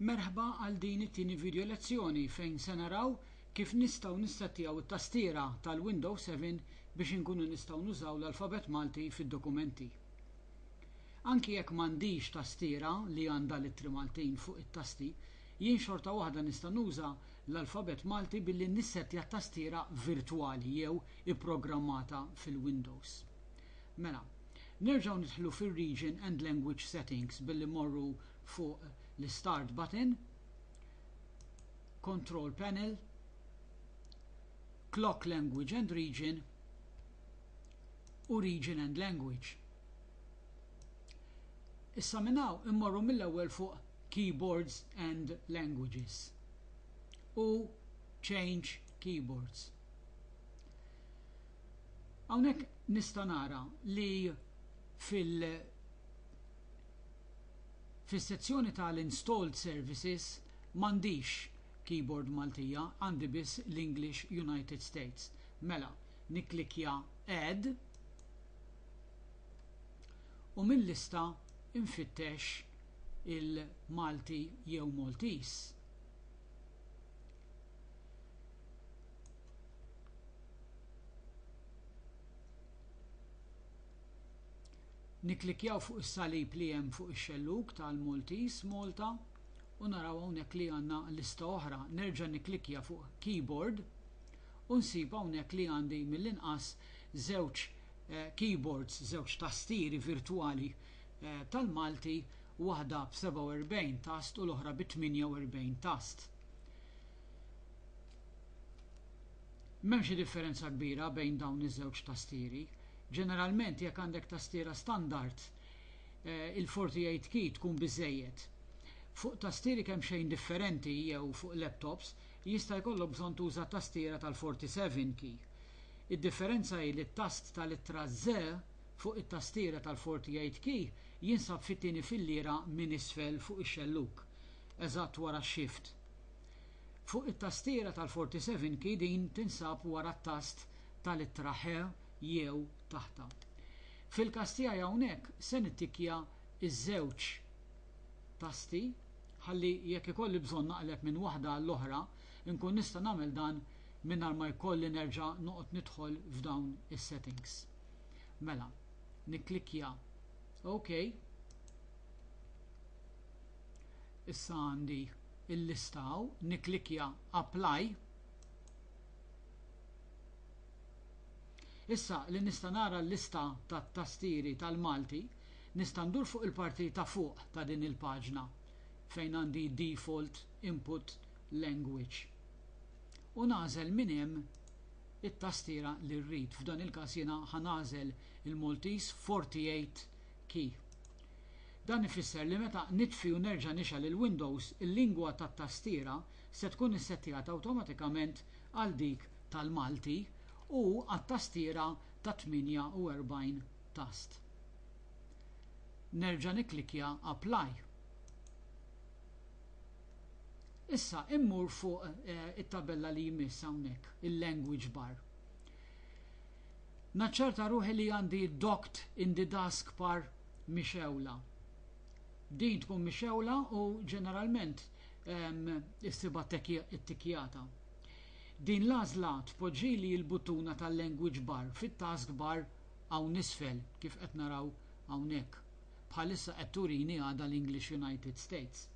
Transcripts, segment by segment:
Merħba għal din it-tieni video lezzjoni fejn se naraw kif nistgħu nissettjaw it-tastiera tal-Windows 7 biex inkunu nistgħu nużaw l-alfabet Malti fid-dokumenti. Anki jekk m'għandix tastiera li għandha l-ittri Maltin fuq it-tasti, jien xorta waħda nista' nuża l-alfabet Malti billi nissettja t-tastiera virtwali jew ipprogrammata fil-Windows. Mela, nerġgħu nidħlu fir-Region and Language Settings billi mmorru fuq l-Start button, Control Panel, Clock Language and Region u Region and Language. Issa minn hawn immorru mill-ewwel fuq Keyboards and Languages u Change Keyboards. Hawnhekk nista' nara li fil fis-sezzjoni tal-installed services m'għandix keyboard Maltija, għandi biss l-English United States. Mela, nikklikkja Add u mil-lista nfittex il-Malti jew Maltese. Nikklikkjaw fuq is-salib li hemm fuq ix-xellug tal-Maltese, Malta, u naraw hawnhekk li għandna lista oħra. Nerġa' nikklikkja fuq Keyboard u nsib hawnhekk li għandi mill-inqas żewġ keyboards, żewġ tastieri virtwali tal-Malti, waħda b'47 tast u l-oħra bi 48 tast. M'hemm xi differenza kbira bejn dawn iż-żewġ tastieri. Ġeneralment jekk għandek tastiera standard, il-48 key tkun biżżejjed. Fuq tastieri kemxejn differenti jew fuq laptops, jista' jkollok bżonn tuża tastiera tal-47 key. Id-differenza hi li t-tast tal-ittra Z fuq it-tastiera tal-48 key jinsab fit-tieni filliera minn isfel fuq ix-xellug, eżatt wara x-Shift. Fuq it-tastiera tal-47 key din tinsab wara t-tast tal-ittra Ħ jew taħtha. Fil-każ tiegħi hawnhekk se nittikkja ż-żewġ tasti ħalli jekk ikolli bżonn naqleb minn waħda għall-oħra nkun nista' nagħmel dan mingħajr ma jkolli nerġa' noqgħod nidħol f'dawn is-settings. Mela, nikklikkja OK. Issa għandi il-lista hawn, nikklikkja Apply. Issa li nista' nara l-lista tat-tastieri tal-Malti, nista' ndur fuq il-parti ta' fuq ta' din il-paġna fejn għandi Default Input Language u nagħżel minn hemm it-tastiera li rrid. F'dan il-każ jiena ħa nagħżel il-Maltese 48 key. Dan ifisser li meta nitfi u nerġa' nixgħel il-Windows, il-lingwa tat-tastiera se tkun issettjata awtomatikament għal dik tal-Malti u għat-tastiera ta' 48 tast. Nerġa' nikklikkja Apply. Issa immur fuq it-tabella li jmiss hawnhekk, il-Language bar. Naċċerta ruħi li għandi Docked in the Taskbar mixgħula. Din tkun mixgħula u ġeneralment issibha ttikjata. Din l-għażla tpoġġili l-buttuna tal-language bar fit-taskbar hawn isfel kif qed naraw hawnhekk. Bħalissa qed turini għadha l-English United States.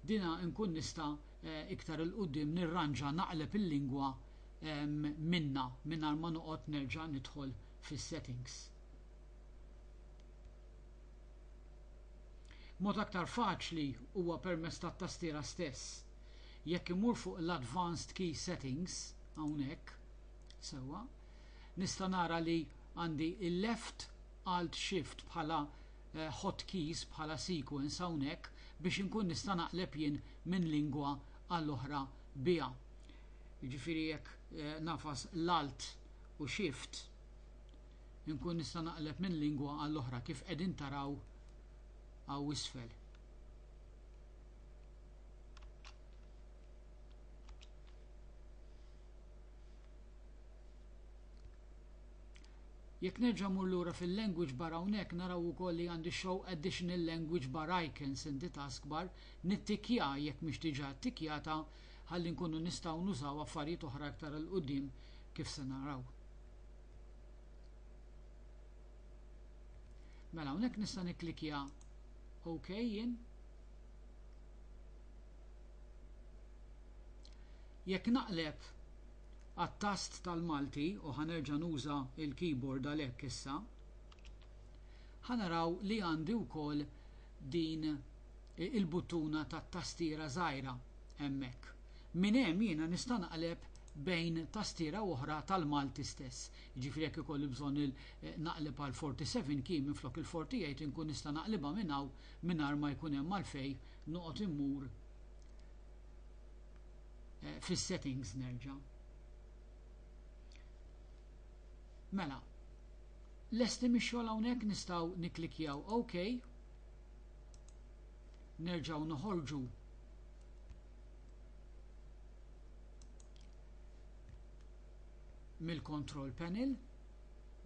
Dina nkun nista' iktar 'il quddiem nirranġa naqleb il-lingwa minnha mingħajr ma noqgħod nerġa' nidħol fis-settings. Mod aktar faċli huwa permezz tat-tastiera stess. Jekk immur fuq l-Advanced Key Settings, hawnhekk, sewwa, nista' nara li għandi il-Left Alt Shift bħala hotkeys bħala sequence hawnhekk biex inkun nista' naqleb jien minn lingwa għal oħra biha. Jiġifieri jekk nagħfas l-Alt u shift inkun nista' naqleb minn lingwa għal oħra kif qegħdin taraw hawn isfel. Jekk nerġa' mur lura fil-language bar hawnhekk naraw ukoll li għandi show additional language bar icons in the taskbar nittikja jekk mhix diġà ttikjata ħalli nkunu nistgħu nużaw affarijiet oħra iktar 'il quddiem kif se naraw. Mela hawnhekk nista' nikklikja OK jien. Jekk naqleb għat-tast tal-Malti u ħanerġa' nuża l-keyboard għalhekk issa, ħanaraw li għandi wkoll din il-buttuna tat-tastiera żgħira hemmhekk. Minn hemm jiena nista' naqleb bejn tastiera u oħra tal-Malti stess. Jiġifieri jekk ikolli bżonn naqleb għal 47 key minflok il-48 inkun nista' naqlibha minn hawn mingħajr ma jkun hemm għalfejn noqgħod immur fis-settings nerġa'. Mela, lesti mix-xogħol hawnhekk nistgħu nikklikkjaw OK. Nerġgħu noħorġu mill-control panel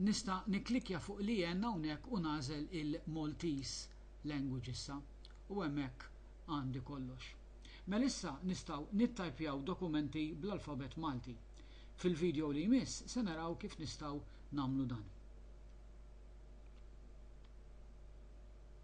nista' nikklikja fuq li jen hawnhekk u nagħżel il-Maltese language issa u hemmhekk għandi kollox. Mela issa nistgħu nittajpjaw dokumenti bl-alfabet Malti. Fil-video li jmiss se naraw kif nistgħu nagħmlu dan.